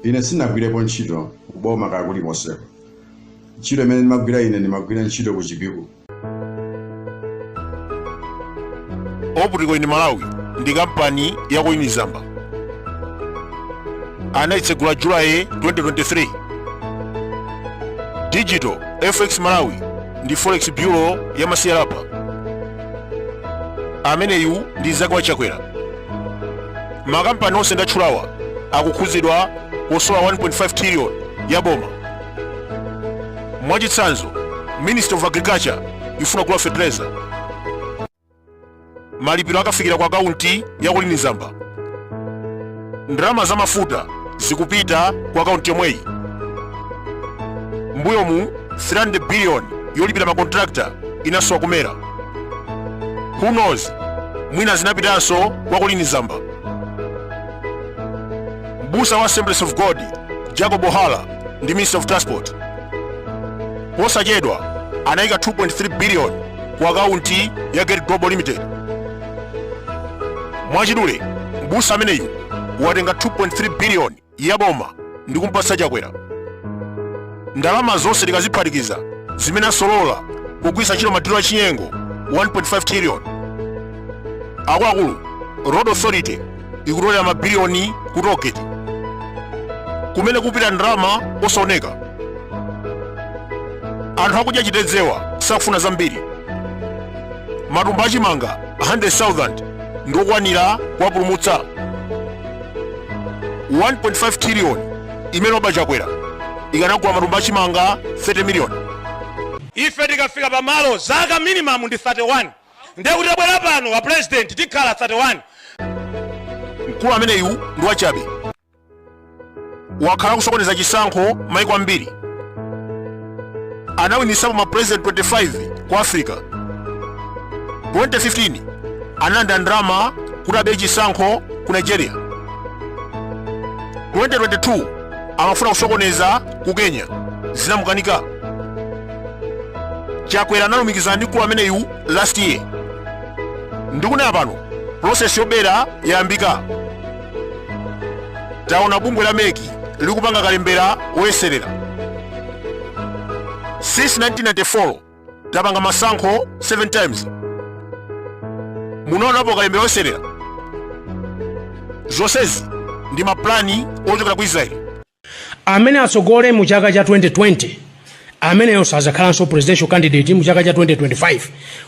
Ine sinagwirepo ntchito kuboma kaya kulikonseko. Ntchito imene ndimagwira ine ndimagwira ntchito ku Chipiku. Optical in Malawi ndi kampani ya Colleen Zamba. Anaitsegula July 2023. Digital FX Malawi ndi Forex Bureau ya Masiyalapa. Ameneyu ndi mzake wa Chakwera. makampani onse ndatchulawa akukhudzidwa kusowa 1.5 trillion ya boma mwachitsanzo ministry of agriculture ikufuna kugula fertilizer malipiro akafikira ku akaunti ya colleen zamba ndalama za mafuta zikupita ku akaunti yomweyi mbuyomu 300 billion yolipira makontrakta inasowa ku mera who knows mwina zinapitanso kwa colleen zamba mbusa wa assemblies of god jacob hara ndi minister of transport posachedwa anayika 2.3 billion ku akaunti ya get global limited mwachidule mbusa ameneyu watenga 2.3 billion ya boma ndi kumpatsa Chakwera. Ndalama zonse tikaziphatikiza zimene asolola pogwiritsa ntchito madilo achinyengo 1.5 trillion. Akuluakulu, Road Authority ikutolera mabiliyoni ku toll gate kumene kupita ndalama osaoneka. Anthu akudya chitedzewa sakufuna zambiri. Matumba achimanga 100,000 ndi okwanira kuwapulumutsa. 1.5 trillion imene waba chakwera ikanagula matumba achimanga 30 million ife tikafika pamalo zaka minimum ndi 31 ndiye kuti tabwera pano a president tikhala 31 mkulu ameneyu ndi wachabe wakhala akusokoneza chisankho maiko ambiri anawinitsapo ma president 25 ku africa 2015 analandira ndalama kuti abere chisankho ku nigeria 2022 amafuna kusokoneza ku kenya zinamukanika chakwera analumikizana ndi mkulu ameneyu last year ndikunena pano process yobera yayambika taona bungwe la mec likupanga kalembera woyeserera since 1994 tapanga masankho 7 times munaonapo kalembera woyeserera zonsezi ndi mapulani ochokera ku israeli amene atsogole mu chaka cha 2020 ameneyo sadzakhalanso presidential candidate mu chaka cha 2025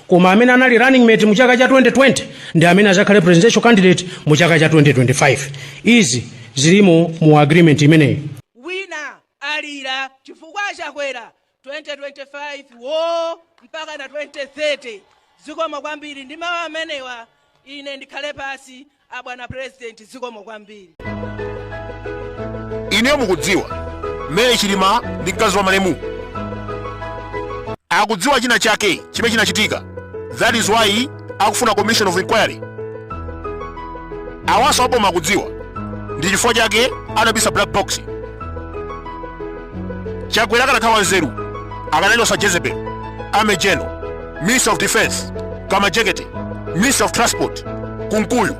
koma amene anali running mate mu chaka cha 2020 ndi amene adzakhale presidential candidate mu chaka cha 2025 izi zilimo mu agreement imeneyi wina alira chifukwa chakwera 2025 woo mpaka 2030 zikomo kwambiri ndi mawu amenewa ine ndikhale pansi abwana president zikomo kwambiri ineyo mukudziwa Mary Chilima ndi mkazi wa malemu akudziwa china chake chimene chinachitika that is why akufuna commission of inquiry awanso aboma akudziwa ndi chifukwa chake anabisa black box chakwera akanakhala wanzeru akanachotsa jezebel amenejano minister of defense kamajekete minister of transport kunkuyu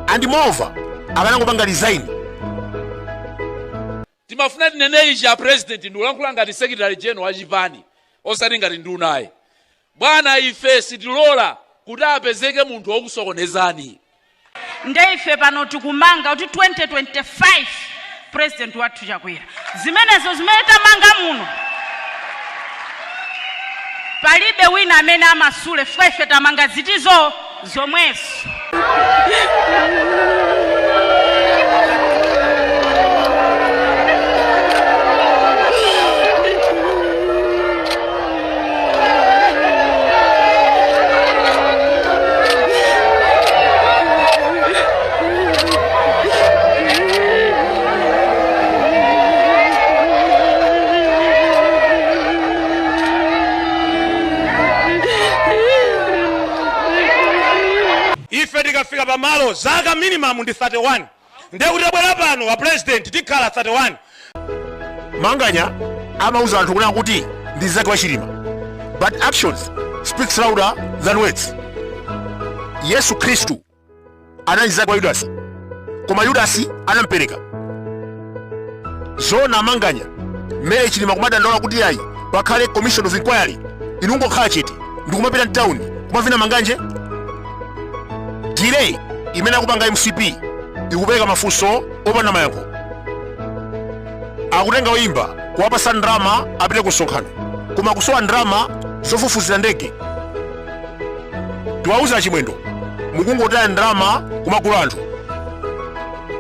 and moreover akanangopanga resign Timafuna tinene ichi a president ndikulankhula ngati secretary general wa chipani osati ngati nduna ayi. Bwana ife sitilola kuti apezeke munthu wokusokonezani. Nde ife pano tikumanga kuti 2025 president wathu Chakwera. Zimenezo zimene tamanga muno palibe wina amene amasule chifukwa ife tamanga zithu. zomwezo. ife tikafika pamalo zaka minimum ndi 31 ndiye kuti tabwera pano a president tikhala 31 manganya amauza anthu kunena kuti ndi mnzake wa chilima but actions speaks louder than words yesu khristu anali mnzake wa Yudasi, koma Yudasi anampereka. Zona amanganya Mary Chilima kumadandaula kuti ayi pakhale commission of inquiry inu kungokhala chete ndikumapita mtawuni kumavina manganje delay imene akupanga mcp ikupereka mafunso opanda mayankho akutenga oyimba kuwapatsa ndalama apite ku msonkhano koma kusowa ndalama zofufuzira ndege tiwauze a chimwendo mukungotaya ndalama kumagula anthu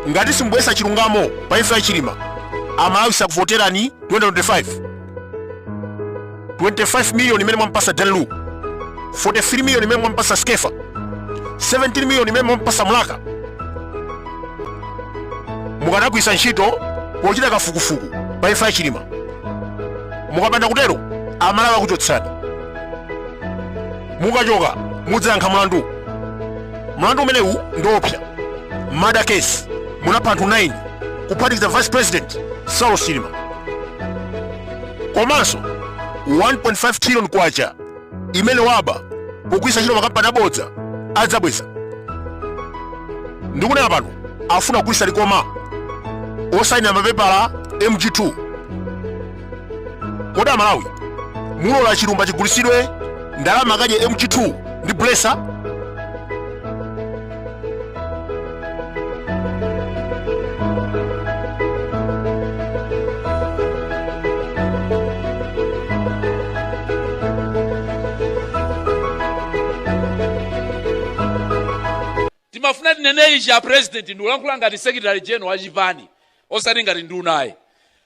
ngati simubweretsa chilungamo pa imfa ya chilima amalawi sakuvoterani 2025 25 million imene mwampasa danlu 43 million imene mwampasa skefa 17 million imene mwampasa mulaka mukanagwiritsa ntchito pochita kafukufuku pa imfa ya chilima mukapanda kutero amalawi akuchotsani mukachoka mudzayankha mlandu mlandu umenewu ndi oopsa murder case munapha anthu 9 kuphatikiza vice president saulos chilima komanso 1.5 trillion kwacha imene waba pogwiritsa ntchito makampani abodza adzabweza ndikunena pano afuna kugulitsa likoma osayinira mapepala mg2 kodi amalawi mulola chilumba chigulitsidwe ndalama akadye mg2 ndi blesa timafuna tinene ichi a president ndikulankhula ngati secretary general wa chipani osati ngati nduna ayi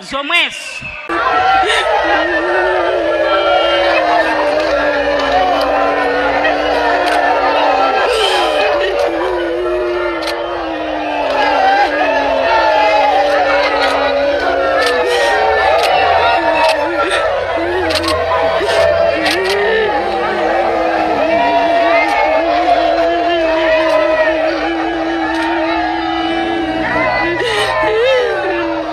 zomwezo.